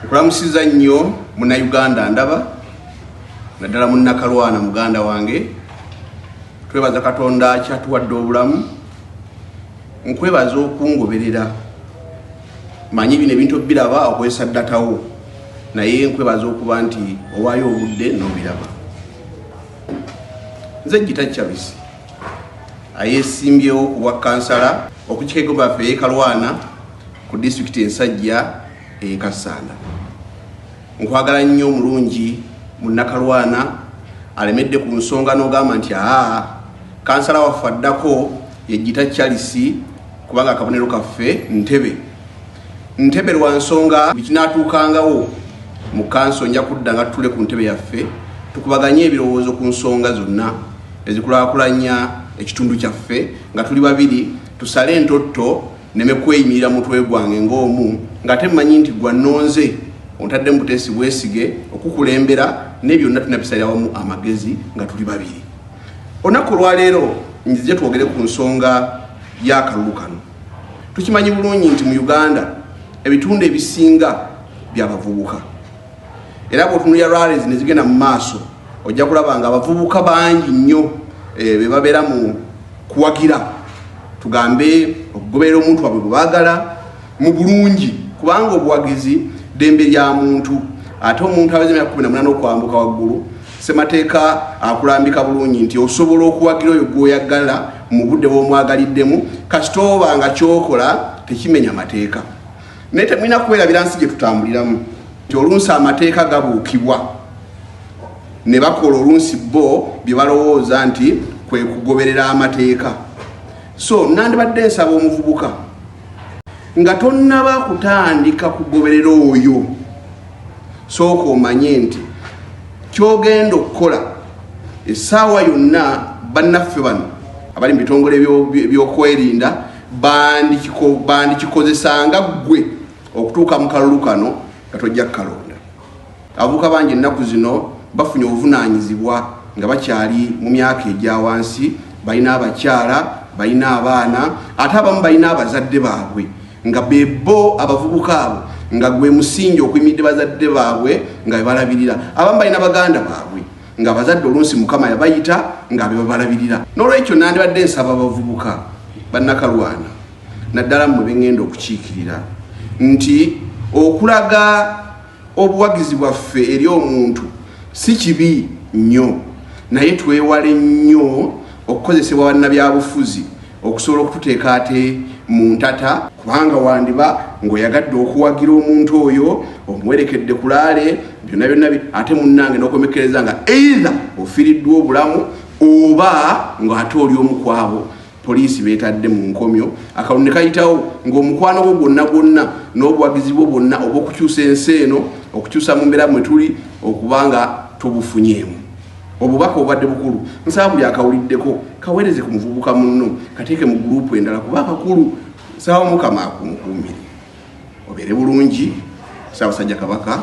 Nkulamusiza nnyo munnayuganda ndaba naddala munnakalwana muganda wange twebaza katonda kyatuwadde obulamu nkwebaza okungoberera manyi bino ebintu obiraba okozesa ddatawo naye nkwebaza okuba nti owaayo obudde nobiraba nze gita chavisi ayesimbyewo ku bwa kansala okukikegobaffe yekalwana ku disitulikiti ensajja eye Kassanda. Nkwagala nnyo omulungi munnakalwana alemedde ku nsonga n'ogamba nti aa kansala waffe addako yejjita Charles kubanga akabonero kaffe Ntebe. Ntebe lwa nsonga bikinaatuukangawo mu kanso nja kudda nga tutule ku ntebe yaffe tukubaganye ebirowoozo ku nsonga zonna ezikulaakulanya ekitundu kyaffe nga tuli babiri tusale entotto neme kweyimirira mutwe gwange ng'omu ng'ate mmanyi nti gwa nonze ontadde mu buteesi bwesige okukulembera naye byonna tulina bisalira wamu amagezi nga tuli babiri olunaku olwaleero nzije twogere ku nsonga y'akalulu kano tukimanyi bulungi nti mu uganda ebitundu ebisinga byabavubuka era bwotunulira rallies nezigenda mu maaso ojja kulaba nga abavubuka bangi nnyo eh, bebabeera mu kuwagira tugambe okugoberera omuntu wabwe gwebagala mu bulungi kubanga obuwagizi dembe lya muntu ate omuntu aweza emyaka kumi namunana okwambuka waggulu semateeka akulambika bulungi nti osobola okuwagira oyo gwoyagala mu budde bwomwagaliddemu kasita oba nga kyokola tekimenya mateeka naye temulina kuwerabira nsi gye tutambuliramu nti olunsi amateeka gabuukibwa ne bakola olunsi bo bye balowooza nti kwe kugoberera amateeka so nandibadde nsaba omuvubuka nga tonnaba kutandika kugoberera oyo sooka omanye nti kyogenda okukola essaawa yonna bannaffe bano abali mu bitongole byokwerinda bandikikozesa nga ggwe okutuuka mu kalulu kano nga tojja kukalonda abavuka bangi ennaku zino bafunye obuvunaanyizibwa nga bakyali mu myaka egya wansi balina abakyala balina abaana ate abamu balina abazadde baabwe nga bebo abavubuka abo nga gwe musingi okuyimidde bazadde baabwe nga bebalabirira abamu balina baganda baabwe nga abazadde oluusi mukama yabayita nga bebabalabirira nolwekyo nandibadde nsaba abavubuka bannakalwana naddala mmwe bengenda okukiikirira nti okulaga obuwagizi bwaffe eri omuntu si kibi nnyo naye twewale nnyo okukozesebwa bannabyabufuzi okusobola okututeeka ate mu ntata kubanga wandiba ng'oyagadde okuwagira omuntu oyo omuwerekedde kulaale byonna byonna ate munnange n'okomekkereza nga eitha ofiriddwa obulamu oba ng'ate oli omukwabo poliisi betadde mu nkomyo akalunde kayitawo ng'omukwano gwo gwonna gwonna n'obuwagizi bwo bwonna obw'okukyusa ensi eno okukyusa mu mbeera mwe tuli okuba nga tubufunyeemu Obubaka obadde bukulu, nsaba buli akawuliddeko kaweereze ku muvubuka munno, kateeke mu guruupu endala kuba akakulu. Nsaba Mukama akumukuumire obeere bulungi. Ssaabasajja Kabaka